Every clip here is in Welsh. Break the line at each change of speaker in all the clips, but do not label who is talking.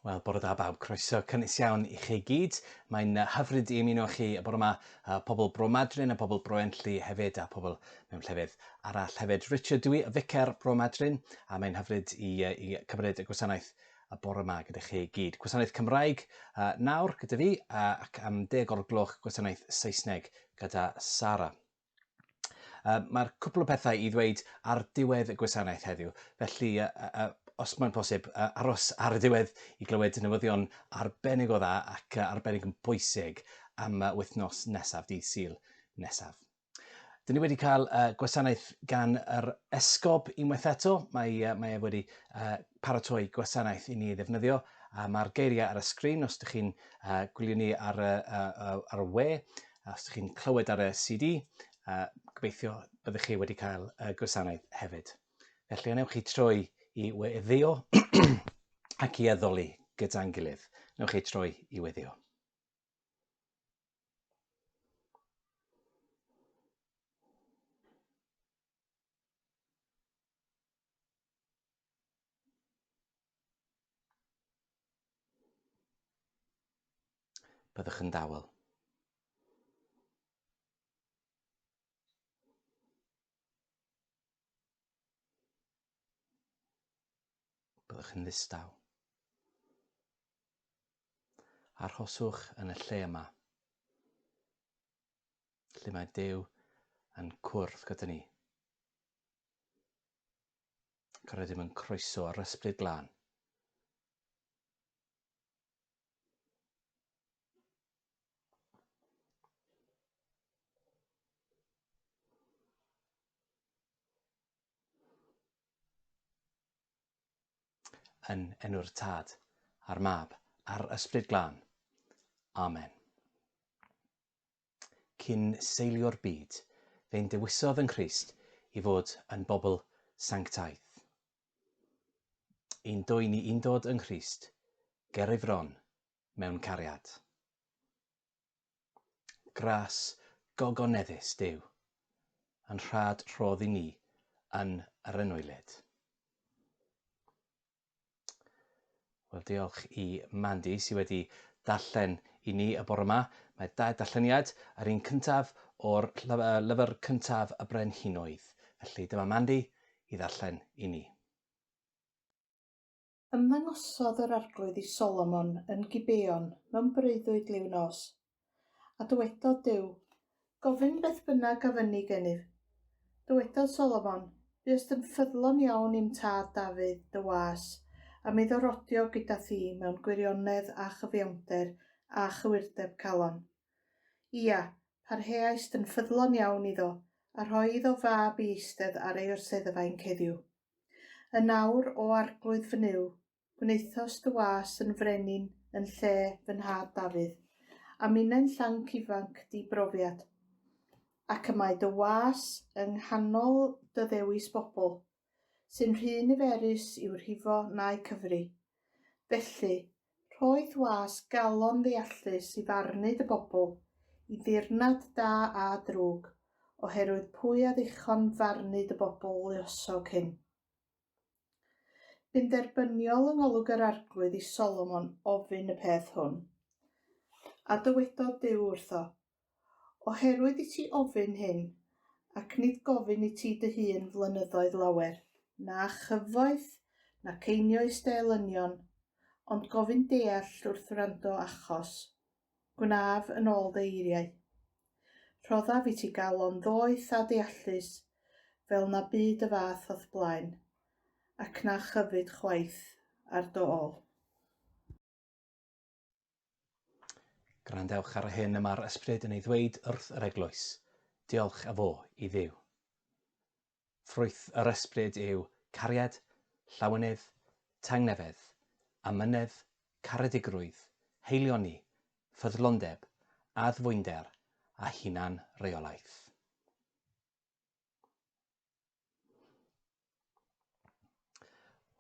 Wel, bore da bawb, croeso cynnes iawn i chi gyd. Mae'n hyfryd i ymuno chi y bore yma, uh, pobl Bro Madryn a pobl Bro Enlli hefyd, a pobl mewn llefydd arall. Hefyd, Richard dwi, y ficer Bro Madryn, a mae'n hyfryd i, i cymryd y gwasanaeth y bore yma gyda chi gyd. Gwasanaeth Cymraeg uh, nawr gyda fi uh, ac am deg o'r gloch gwasanaeth Saesneg gyda Sara. Uh, Mae'r cwpl o pethau i ddweud ar diwedd y gwasanaeth heddiw, felly uh, uh, os mae'n posib, uh, aros ar y diwedd i glywed newyddion arbennig o dda ac uh, arbennig yn bwysig am uh, wythnos nesaf, dydd Sul nesaf. Dyn ni wedi cael uh, gwasanaeth gan yr esgob unwaith eto. Mae, uh, mae ef wedi uh, paratoi gwasanaeth i ni ddefnyddio. Uh, Mae'r geiriau ar y sgrin os ydych chi'n uh, gwylio ni ar, uh, uh, ar y we, os ydych chi'n clywed ar y CD. Uh, gobeithio byddwch chi wedi cael uh, gwasanaeth hefyd. Felly, anewch chi troi i weddio ac i addoli gyda'n gilydd. Newch chi troi i weddio. Byddwch yn dawel. Byddwch yn ddistaw. Arhoswch yn y lle yma, lle mae Duw yn cwrdd gyda ni. Ac rydym yn croeso ar ysbryd glân. Yn enw'r Tad, a'r Mab, a'r Ysbryd Glân. Amen. Cyn seilio'r byd, fe'n dewisodd yng Nghrist i fod yn bobl sanctaidd. Yn dwy ni undod yng Nghrist, ger ei fron, mewn cariad. Gras gogoneddus Duw, yn rhad rhodd i ni yn yr anwylyd. Wel, diolch i Mandy sydd wedi darllen i ni y bore yma. Mae dau darlleniad, yr un cyntaf o'r lyfr cyntaf y Brenhinoedd. Felly dyma Mandy i ddarllen i ni.
Ymddangosodd yr Arglwydd i Solomon yn Gibeon mewn breuddwyd liw nos. A dywedodd Duw, Gofyn beth bynnag a fynni genyf. Dywedodd Solomon, Buost yn ffyddlon iawn i'm tad Dafydd, dy was, a mi ddarodio gyda thi mewn gwirionedd a chyfiawnder a chywirdeb calon. Ia, parheaist yn ffyddlon iawn iddo, a rhoi iddo fab i eistedd ar ei orseddfa i'n ceddiw. Yn awr, o Arglwydd fy Nuw, gwnaethos dy was yn frenin yn lle fy nhad Dafydd, a minnau'n llanc ifanc di-brofiad. Ac y mae dy was yng nghanol dy ddewis bobl, sy'n rhy niferus i'w rhifo na'u cyfri. Felly, rhoith was galon ddeallus i farnu dy bobl i ddirnad da a drwg, oherwydd pwy a ddichon farnu dy bobl luosog hyn? Bu'n dderbyniol yng ngolwg yr Arglwydd i Solomon ofyn y peth hwn. A dywedodd Duw wrtho, Oherwydd i ti ofyn hyn, ac nid gofyn i ti dy hun flynyddoedd lawer, na chyfoeth, nac einioes dy elynion, ond gofyn deall wrth wrando achos, gwnaf yn ôl dy eiriau. Rhoddaf i ti galon ddoeth a deallus, fel na bu dy fath o'th blaen, ac na chyfyd chwaith ar dy ôl.
Gwrandewch ar hyn y mae'r ysbryd yn ei ddweud wrth yr eglwys, diolch a fo i Dduw. Ffrwyth yr ysbryd yw cariad, llawenydd, tangnefedd, amynedd, caredigrwydd, heilioni, ffyddlondeb, addfwynder a hunan-reolaeth.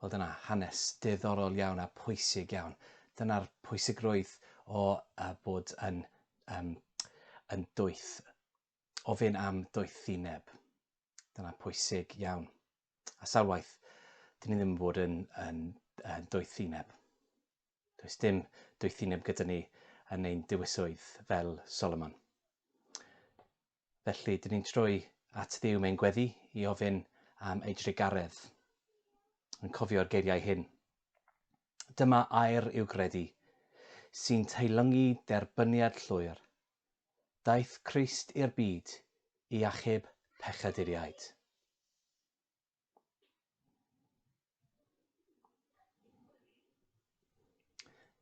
Wel dyna hanes diddorol iawn a pwysig iawn. Dyna'r pwysigrwydd o uh, bod yn, um, yn dwyth, ofyn am doethineb. Dyna pwysig iawn. A sawl waith, dyn ni ddim yn bod yn, yn, yn doethineb. Does dim doethineb gyda ni yn ein dewiswydd fel Solomon. Felly, dyn ni'n troi at ddiw mewn gweddi i ofyn am ei drugaredd. Yn cofio'r geiriau hyn. Dyma air i'w gredu, sy'n teilyngu derbyniad llwyr. Daeth Christ i'r byd i achub pechaduriaid.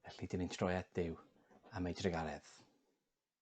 Felly, dyn ni'n troi at ddiw am ei drugaredd.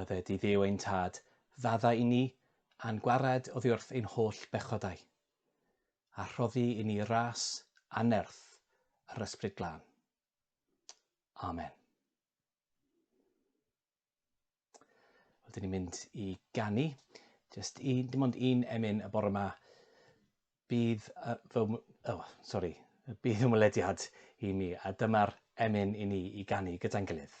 Bydde di Dduw ein tad, ddadda i ni, a'n gwared oddi wrth ein holl bechodau, a rhoddi i ni ras anerth yr Ysbryd Glân. Amen. Wel, dyn ni'n mynd i ganu. Just un, dim ond un emyn y bore yma. Bydd uh, fy... Oh, sorry. Bydd ymwelediad i mi. A dyma'r emyn i ni i ganu gyda'n gilydd.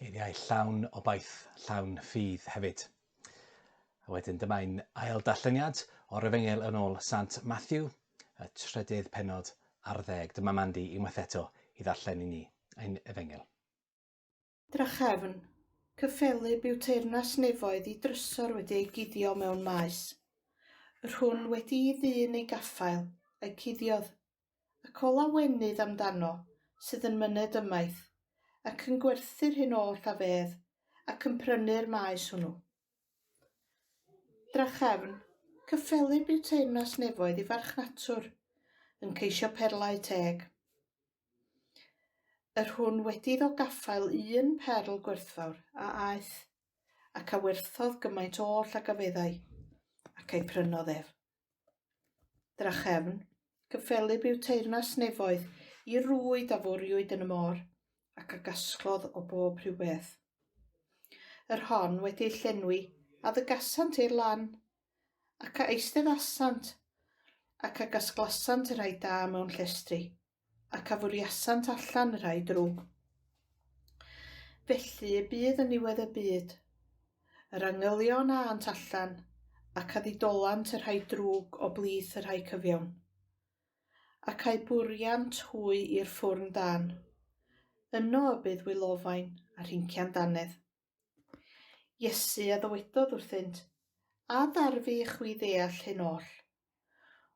Geiriau llawn obaith, llawn ffydd hefyd. A wedyn dyma'n ail darlleniad o'r efengel yn ôl Sant Matthew, y trydydd penod ar ddeg. Dyma Mandy unwaith eto i ddarllen i ni ein efengel.
Drachefn, cyffelyb yw teyrnas nefoedd i drysor wedi ei guddio mewn maes. Yr hwn wedi'i ddyn ei gaffael, a'i cuddiodd, ac ola wenydd am dano, sydd yn myned ymaith, ac yn gwerthu'r hyn oll a fedd, ac yn prynu'r maes hwnnw. Drachefn, cyffelyb yw teyrnas nefoedd i farchnatwr, yn ceisio perlau teg. Yr hwn wedi iddo gaffael un perl gwerthfawr a aeth, ac a werthodd gymaint oll ag a feddai, ac a'i prynodd ef. Drachefn, gyffelyb yw teyrnas nefoedd, i rwyd a fwriwyd yn y môr, ac a gasglodd o bob rhyw beth. Yr hon wedi ei llenwi, a ddygasant i'r lan, ac a eisteddasant, ac a gasglasant y rhai da mewn llestri, ac a fwriasant allan y rhai drwg. Felly y bydd yn niwedd y byd. Yr angylion a ant allan, ac a ddidolant y rhai drwg o blith y rhai cyfiawn. Ac a'u bwriant hwy i'r ffwrn dan. Yno y bydd wylofain a rhincian danedd. Iesu a ddywedodd wrthynt, A darfu i chwi ddeall hyn oll?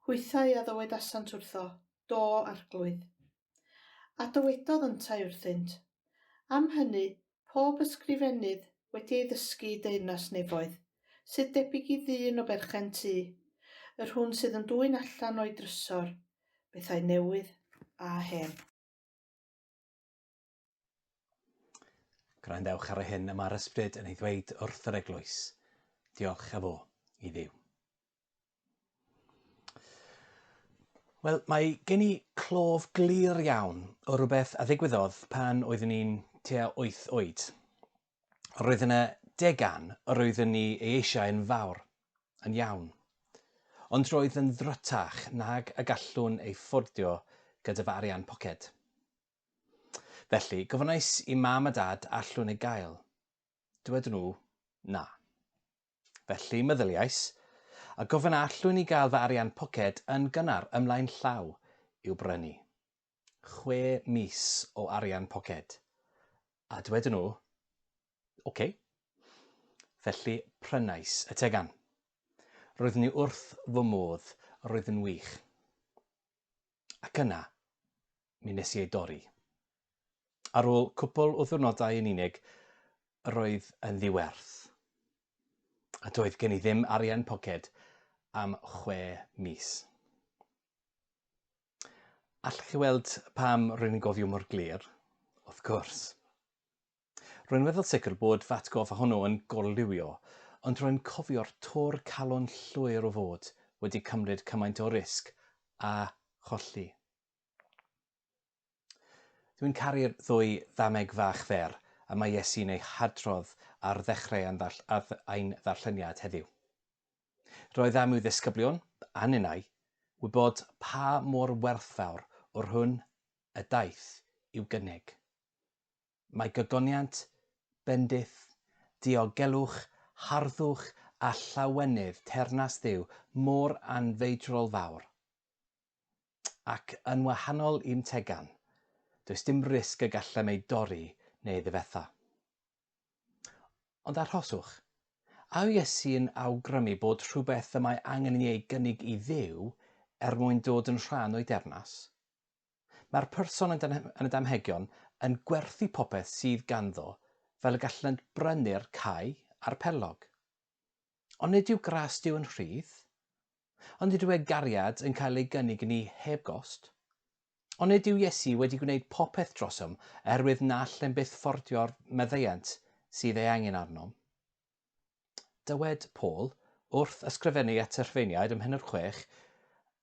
Hwythau a ddywedasant wrtho, Do, Arglwydd. A dywedodd yntau wrthynt, Am hynny, pob ysgrifennydd wedi ei ddysgu i deyrnas nefoedd, sydd debyg i ddyn o berchen tŷ, yr hwn sydd yn dwyn allan o'i drysor, bethau newydd a hen.
Gwrandewch ar hyn y mae'r ysbryd yn ei ddweud wrth yr eglwys. Diolch a fo i ddiw. Wel, mae gen i clof glir iawn o rhywbeth a ddigwyddodd pan oeddwn i'n tua 8 oed. Roedd yna degan yr oeddwn ni ei eisiau yn fawr, yn iawn. Ond roedd yn ddrwtach nag y gallwn ei ffordio gyda fy arian poced. Felly, gofynnais i mam a dad allwn ei gael. Dywedon nhw, na. Felly, meddyliais, a gofyn a allwn i gael fy arian poced yn gynnar ymlaen llaw i'w brynu chwe mis o arian poced? A dywedon nhw, oce. Felly, prynais y tegan. Roeddwn i wrth fy modd, roedd yn wych. Ac yna, mi wnes i ei dorri. Ar ôl cwpl o ddiwrnodau yn unig, yr oedd yn ddiwerth. A doedd gen i ddim arian poced am chwe mis. Allwch chi weld pam rwy'n yn gofio mor glir? Wrth gwrs. Rwy'n weddol sicr bod fy atgoffa hwnnw yn gorliwio, ond rwy'n cofio'r tor calon llwyr o fod wedi cymryd cymaint o risg a cholli. Dwi'n caru'r ddwy ddameg fach fer y mae Iesu'n eu hadrodd ar ddechrau ein ddarlleniad heddiw. Roedd am i'w ddisgyblion, a ninnau, wybod pa mor werthfawr o'r hwn y daeth i'w gynnig. Mae gogoniant, bendith, diogelwch, harddwch a llawenydd teyrnas Dduw mor anfeidrol fawr. Ac yn wahanol i'm tegan, does dim risg y gallem ei dorri neu ei ddifetha. Ond arhoswch. A yw Iesu yn awgrymu bod rhywbeth y mae angen i ni ei gynnig i Dduw er mwyn dod yn rhan o'i deyrnas? Mae'r person yn y damhegion yn gwerthu popeth sydd ganddo fel y gallant brynu'r cae a'r perlog. Ond nid yw gras Duw yn rhydd? Ond nid yw ei gariad yn cael ei gynnig i ni heb gost? Ond nid yw Iesu wedi gwneud popeth drosom oherwydd na allem byth ffordio'r maddeuant sydd ei angen arnom? Dywed Paul, wrth ysgrifennu at y Rhufeiniaid ym Mhennod Chwech,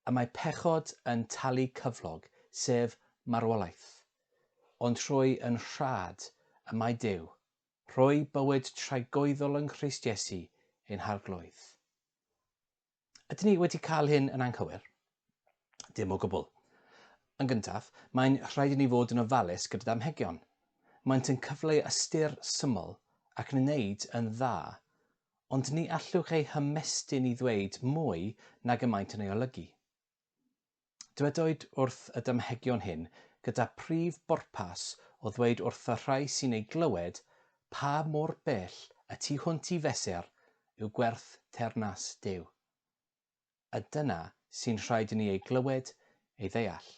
y mae pechod yn talu cyflog, sef marwolaeth. Ond trwy yn rhad y mae Duw rhoi bywyd tragoeddol yng Nghrist Iesu ein harglwydd. Ydyn ni wedi cael hyn yn anghywir? Dim o gwbl. Yn gyntaf, mae'n rhaid i ni fod yn ofalus gyda damhegion. Maent yn cyfleu ystyr syml ac yn wneud yn dda, ond ni allwch eu hymestyn i ddweud mwy nag y maent yn ei olygu. Dywedwyd wrth y damhegion hyn gyda phrif bwrpas o ddweud wrth y rhai sy'n eu glywed pa mor bell y tu hwnt i fesur yw gwerth teyrnas Duw. A dyna sy'n rhaid i ni ei glywed, ei ddeall.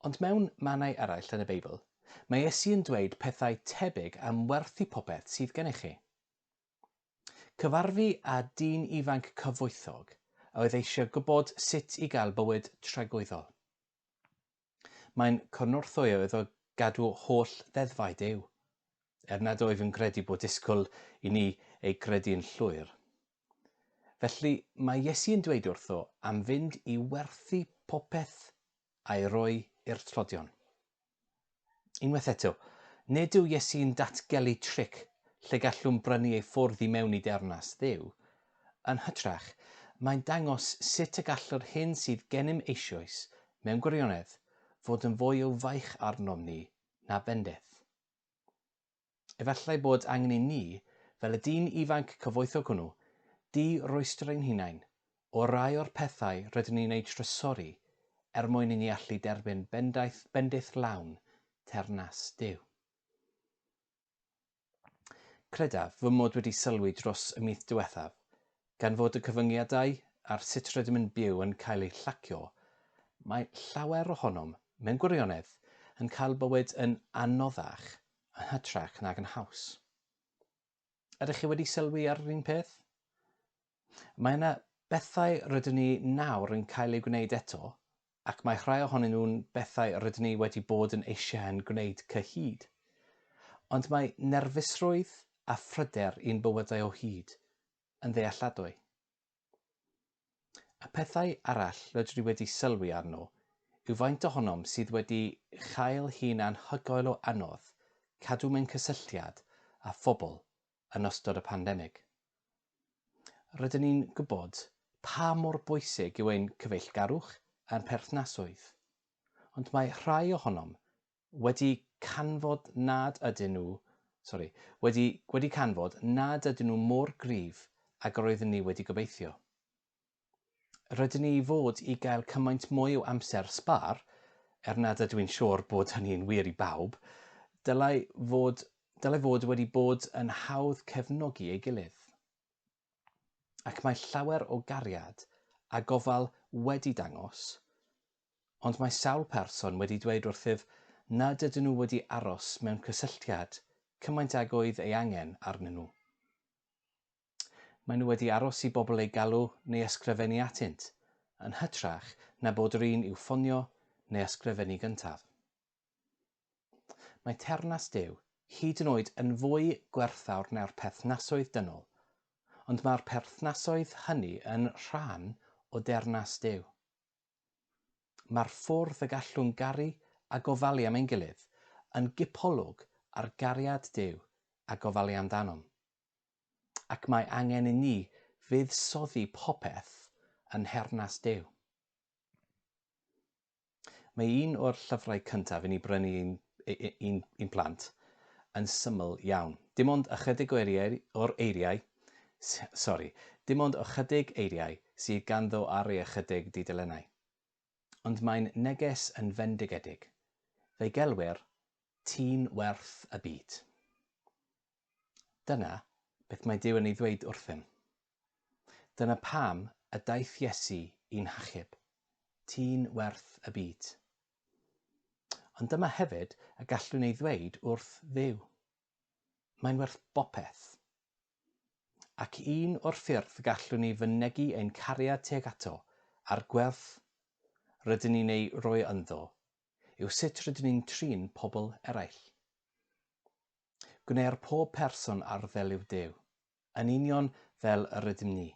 Ond mewn mannau eraill yn y Beibl, mae Iesu yn dweud pethau tebyg am werthu popeth sydd gennych chi. Cyfarfu â dyn ifanc cyfoethog a oedd eisiau gwybod sut i gael bywyd tragwyddol. Mae'n cynorthwyo iddo gadw holl ddeddfau Duw, er nad wyf yn credu bod disgwyl i ni eu credu'n llwyr. Felly, mae Iesu yn dweud wrtho am fynd i werthu popeth a'i roi i'r tlodion. Unwaith eto, nid yw Iesu'n datgelu tric lle gallwn brynu ei ffwrdd i mewn i deyrnas Dduw. Yn hytrach, mae'n dangos sut y gall yr hyn sydd gennym eisoes, mewn gwirionedd, fod yn fwy o faich arnom ni na bendith. Efallai bod angen i ni, fel y dyn ifanc cyfoethog hwnnw, di-roestr ein hunain o rai o'r pethau rydyn ni'n eu trysori er mwyn i ni allu derbyn bendaeth, bendith lawn teyrnas Duw. Credaf fy mod wedi sylwi dros y mis diwethaf Gan fod y cyfyngiadau ar sut rydym yn byw yn cael eu llacio, mae llawer ohonom, mewn gwirionedd, yn cael bywyd yn anoddach yn hytrach nag yn haws. Ydych chi wedi sylwi ar yr un peth? Mae yna bethau rydyn ni nawr yn cael eu gwneud eto ac mae rhai ohonyn nhw'n bethau rydyn ni wedi bod yn eisiau'n gwneud cyhyd. Ond mae nerfusrwydd a phryder i'n bywydau o hyd yn ddealladwy. Y pethau arall rydw i wedi sylwi arno yw faint ohonom sydd wedi chael hi'n anhygoel o anodd cadw mewn cysylltiad â phobl yn ystod y pandemig. Rydyn ni'n gwybod pa mor bwysig yw ein cyfeillgarwch a'n perthnasoedd, ond mae rhai ohonom wedi canfod nad ydyn nhw, sori, wedi wedi canfod nad ydyn nhw mor gryf ag yr oeddwn ni wedi gobeithio. rydyn ni i fod i gael cymaint mwy o amser sbâr, er nad ydw i'n siŵr bod hynny'n wir i bawb, dylai fod, dylai fod wedi bod yn hawdd cefnogi ei gilydd. Ac mae llawer o gariad a gofal wedi dangos, ond mae sawl person wedi dweud wrthyf nad ydyn nhw wedi aros mewn cysylltiad cymaint ag oedd ei angen arnyn nhw. Maen nhw wedi aros i bobl eu galw neu ysgrifennu atynt, yn hytrach na bod yr un i'w ffonio neu ysgrifennu gyntaf. Mae teyrnas Duw hyd yn oed yn fwy gwerthfawr na'r perthnasoedd dynol, ond mae'r perthnasoedd hynny yn rhan o deyrnas Duw. Mae'r ffordd y gallwn garu a gofalu am ein gilydd yn gipolwg ar gariad Duw a gofalu amdanom. ac mae angen i ni fuddsoddi popeth yn nhernas Duw. Mae un o'r llyfrau cyntaf i ni brynu i'n i'n i'n plant yn syml iawn. Dim ond ychydig o eiriau, o'r eiriau, sori, dim ond ychydig eiriau sydd ganddo ar ei ychydig dudalennau. Ond mae'n neges yn fendigedig. Fe'i gelwir Ti'n Werth y Byd. Dyna beth mae Duw yn ei ddweud wrthym. Dyna pam y daeth Iesu i'n hachub. Ti'n werth y byd. Ond dyma hefyd y gallwn ei ddweud wrth Dduw. Mae'n werth bopeth. Ac un o'r ffyrdd gallwn ni fynegi ein cariad tuag ato, a'r gwerth rydyn ni'n ei roi ynddo, yw sut rydyn ni'n trin pobl eraill. Gwneir pob person ar ddelyw Duw, yn union fel yr ydym ni.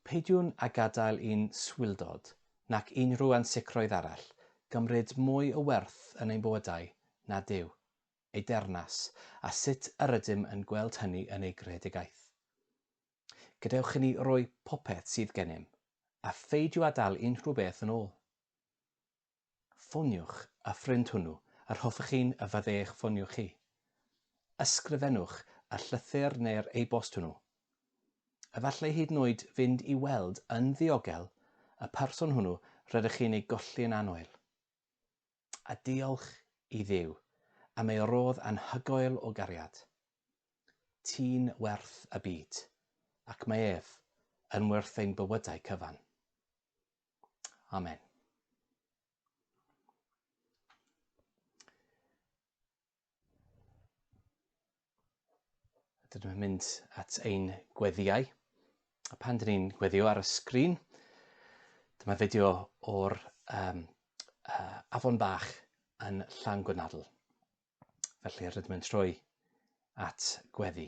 Peidiwn â gadael i'n swildod, nac unrhyw ansicrwydd arall, gymryd mwy o werth yn ein bywydau na Duw, ei deyrnas, a sut yr ydym yn gweld hynny yn ei greadigaeth. Gadewch i ni roi popeth sydd gennym, a pheidio â dal unrhyw beth yn ôl. Ffoniwch y ffrind hwnnw yr hoffech chi'n y fydde eich ffonio chi. Ysgrifennwch y llythyr neu'r e-bost hwnnw. Efallai hyd yn oed fynd i weld yn ddiogel y person hwnnw rydych chi'n ei golli yn annoel. a diolch i Dduw am ei rodd anhygoel o gariad. Ti'n werth y byd, ac mae ef yn werth ein bywydau cyfan. Amen. Dydyn nhw'n mynd at ein gweddiau. A pan dyn ni'n gweddio ar y sgrin, dyma fideo o'r um, uh, afon bach yn llan gwynadl. Felly rydym yn troi at gweddi.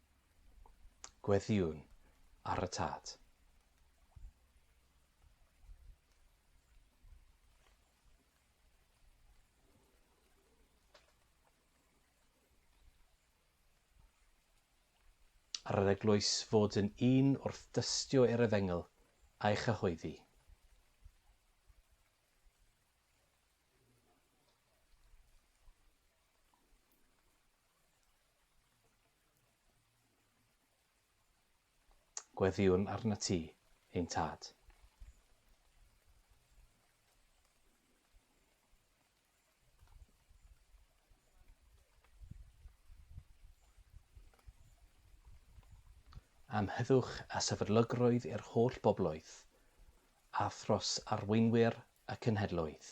Gweddïwn ar y Tad. Ar yr eglwys fod yn un wrth dystio i'r efengyl a'i chyhoeddi. Gweddïwn arnat ti, ein Tad. am heddwch a sefydlygrwydd i'r holl bobloedd, a thros arweinwyr y cenhedloedd.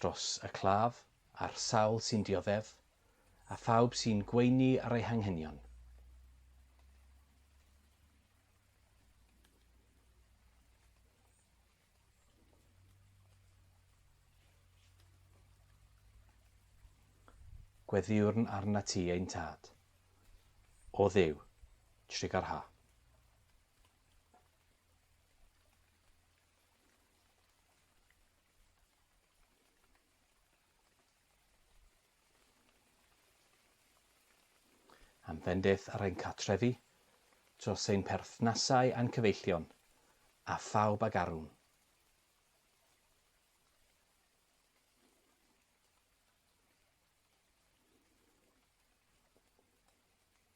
dros y claf a'r sawl sy'n dioddef, a phawb sy'n gweini ar ei hanghenion. Gweddïwrn arna ti ein tad. O Dduw, trigar ha. Am fendith ar ein cartrefi, dros ein perthnasau a'n cyfeillion, a phawb ag arwm.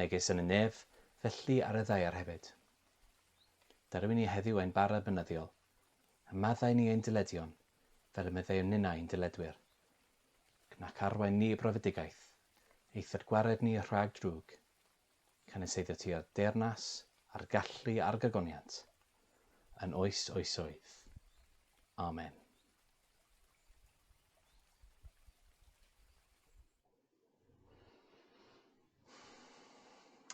Megis yn y nef, felly ar y ddaear hefyd. Dyrru i ni heddiw ein bara beunyddiol, a maddau i ni ein dyledion, fel y meddeuwn ninnau i'n dyledwyr. Cnac arwain ni i brofedigaeth, eithod gwared ni rhag drwg. Cyniseiddio ti â'r deyrnas, a'r gallu a'r gogoniant, yn oes oesoedd. Amen.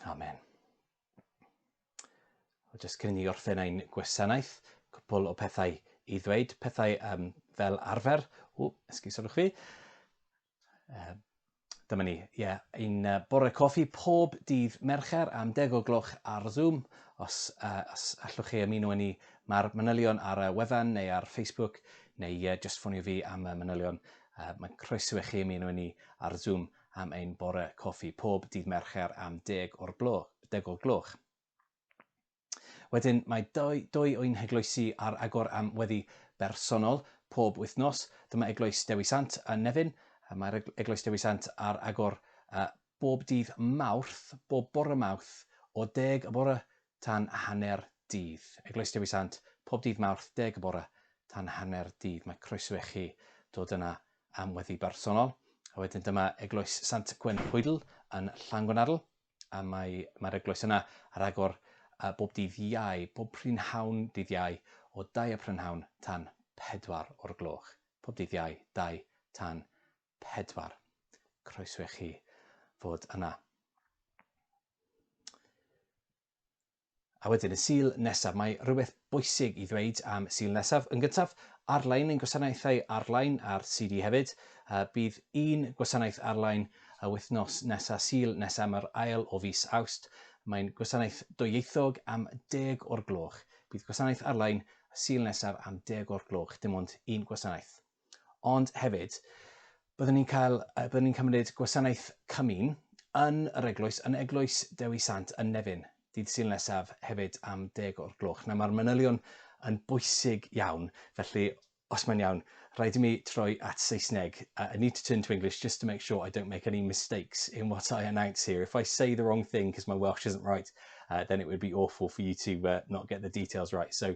Amen. Jyst cyn i ni orffen ein gwasanaeth, cwpl o pethau i ddweud, pethau um, fel arfer. O, esgusodwch fi. Uh, dyma ni, ie, yeah, ein uh, bore coffi pob dydd Mercher am deg o gloch ar Zoom. Os, uh, os allwch chi ymuno â ni, mae'r manylion ar y wefan neu ar Facebook, neu uh, just ffonio fi am y manylion Yy, mae'n croeso i chi ymuno â ni ar Zoom am ein bore coffi pob dydd Mercher am deg o'r gloch, deg o'r gloch. Wedyn, mae dou, dou o'n heglwysi ar agor am weddi bersonol pob wythnos. Dyma Eglwys Dewi Sant yn Nefyn. Yy, Mae'r eg- Eglwys Dewi Sant ar agor yy, bob dydd Mawrth, bob bore Mawrth, o deg y bore tan hanner dydd. Eglwys Dewi Sant, pob dydd Mawrth, deg y bore, tan hanner dydd. Mae croeso i chi dod yna am weddi bersonol. A wedyn dyma Eglwys Sant Gwenhwydl yn Llangwnnarl, a mae, mae'r eglwys yna ar agor uh, bob dydd iau, bob prynhawn dydd iau, o dau y prynhawn tan pedwar o'r gloch. Pob dydd iau, dau tan pedwar. Croeso i chi fod yna. A wedyn y Sul nesaf. Mae rhywbeth bwysig i ddweud am Sul nesaf. Yn gyntaf, arlein ein gwasanaethau arlein ar CD hefyd. Bydd un gwasanaeth arlein y wythnos nesaf, Sul nesaf, mae'r ail o fis Awst. Mae'n gwasanaeth dwyieithog am deg o'r gloch. Bydd gwasanaeth arlein y Sul nesaf am deg o'r gloch, dim ond un gwasanaeth. Ond hefyd, byddwn ni'n cael, byddwn ni'n cymryd gwasanaeth cymun yn yr eglwys, yn eglwys Dewi Sant yn Nefyn, dydd syl nesaf hefyd am deg o'r gloch. Na, mae'r manylion yn bwysig iawn, felly os mae'n iawn, rhaid i mi troi at Saesneg. Uh, I need to turn to English just to make sure I don't make any mistakes in what I announce here. If I say the wrong thing because my Welsh isn't right, uh, then it would be awful for you to uh, not get the details right. So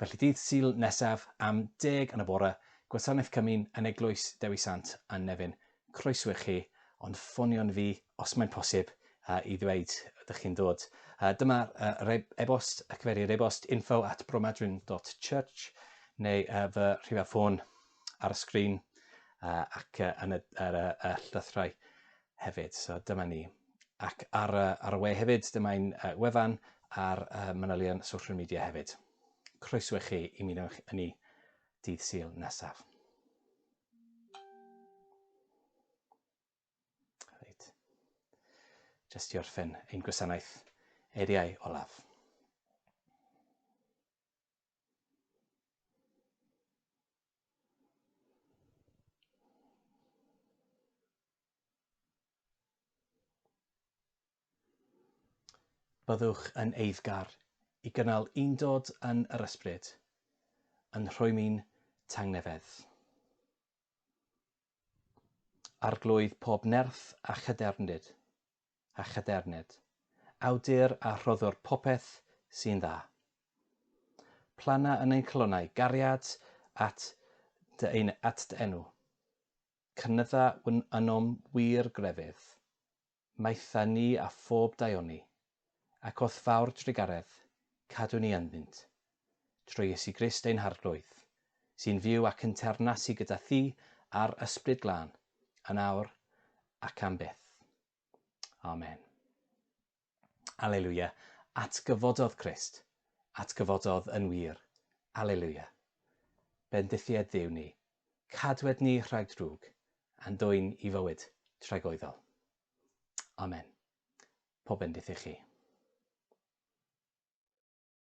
Felly dydd Sul nesaf am deg yn y bore, Gwasanaeth Cymun yn Eglwys Dewi Sant yn Nefyn, croeso i chi, ond ffonio'n fi os mae'n posib i ddweud ydych chi'n dod. Dyma e-bost, y cyfeiriad e-bost info at bromadwyn.church neu fy rhifau ffôn ar y sgrin ac yn y llythyrau. hefyd. So dyma ni. Ac ar y, ar y we hefyd, dyma ein uh, wefan a'r uh, manylion social media hefyd. Croeso i chi i mi ynni ni dydd syl nesaf. Reit. Just i orffen ein gwasanaeth eiriau olaf. Byddwch yn eiddgar i gynnal undod yn yr ysbryd, yn rhwymi'n tangnefedd. Arglwydd pob nerth a chydermdyd, a chadernid, awdur a rhoddwr popeth sy'n dda. Plana yn ein calonnau gariad at dy ein at dy enw. Cynydda wn ynom wir grefydd. Maetha ni a phob daioni, ac o'th fawr drugaredd, cadw ni ynddynt. trwy Iesu Grist ein Harglwydd, sy'n fyw ac yn teyrnasu gyda thi a'r Ysbryd Glân, yn awr ac am byth. Amen. Alleluia. Atgyfododd Crist. Atgyfododd yn wir. Alleluia. Bendithied Dduw ni. Cadwed ni rhag drwg, a'n dwyn i fywyd tragoeddol. Amen. Pob bendith i chi.